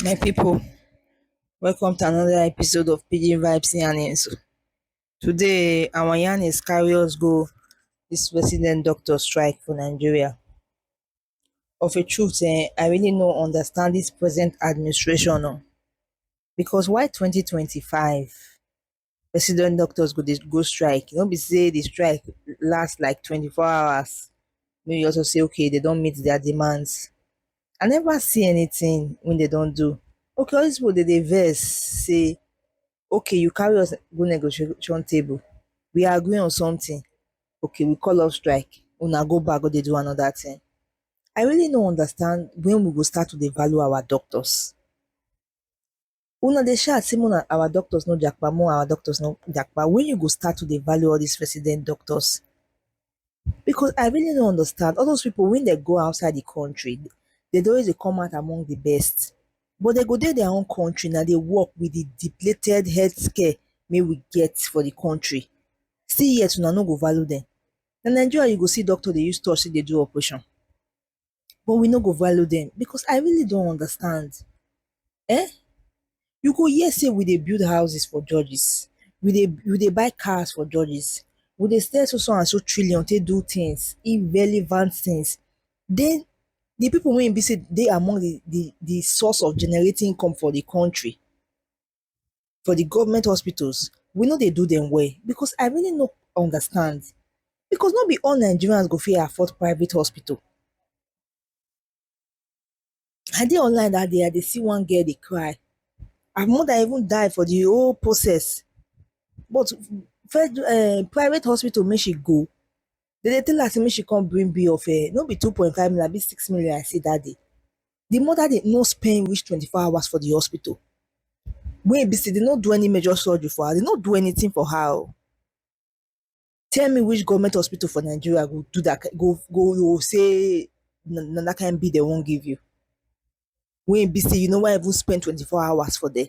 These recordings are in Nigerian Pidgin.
my people welcome to another episode of pidgin vibes yarnings today our yarnings carry us go this resident doctor strike for nigeria of a truth eh, I really no understand this present administration oh. Because why 2025 resident doctors go dey go strike? No be say the strike last like 24 hours. Make you also say okay, they don meet their demands. I never see anything when they don do. Okay, all these people dey dey vex say okay you carry us go negotiation table we agree on something okay we call off strike una go back go dey do another thing i really no understand when we go start to dey value our doctors una dey shout say una our doctors no japa more our doctors no japa when you go start to dey value all these resident doctors because I really don't understand. All those people, when they go outside the country, they don't always come out among the best. But they go there their own country now, they work with the depleted healthcare may we get for the country. See yet, una no go value them. Na Nigeria you go see doctor they use touch say they do operation. but we no go value dem because I really don't understand um you go hear say we dey build houses for judges we dey we dey buy cars for judges we dey spend so so and so trillion take do things irrelevant things then the people wey e be say dey among the the the source of generating income for the country for the government hospitals we no dey do them well because i really no understand because no be all nigerians go fit afford private hospital i dey online that day i dey see one girl dey cry her mother even die for the whole process but fed um private hospital make she go They dey tell her say make she come bring bill of um no be two point five million abi six million I see that day. The mother dey no spend reach twenty four hours for the hospital wey e be say dey no do any major surgery for her, dey no do anything for her oh. Tell me which government hospital for Nigeria go do that kain go go go say na that kain bill dey wan give you wey e be say you never even spend twenty four hours for there.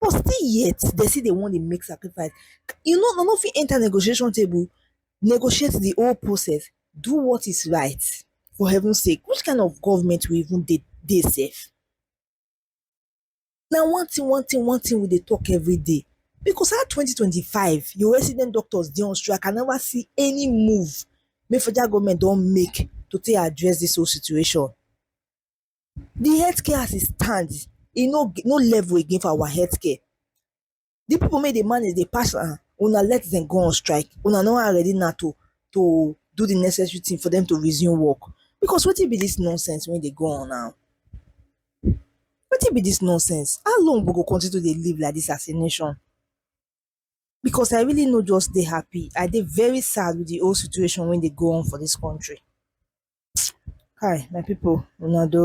but still yet dem still dey wan dey make sacrifice you no dem no fit enter negotiation table negotiate the whole process do what is right for heaven sake which kind of government we even dey dey sef na one thing one thing one thing we dey talk everyday because how twenty twenty five your resident doctors dey on strike I never see any move wey federal government don make to take address this whole situation. the healthcare as e stand e no no level again for our healthcare the people make the money they pass am ah, una let them go on strike una no are ready now to to do the necessary thing for them to resume work because what wetin be this nonsense when they go on now What wetin be this nonsense how long we go continue to live like this as a nation because I really no just dey happy. I dey very sad with the whole situation wey dey go on for this country. Hi, my people, una do.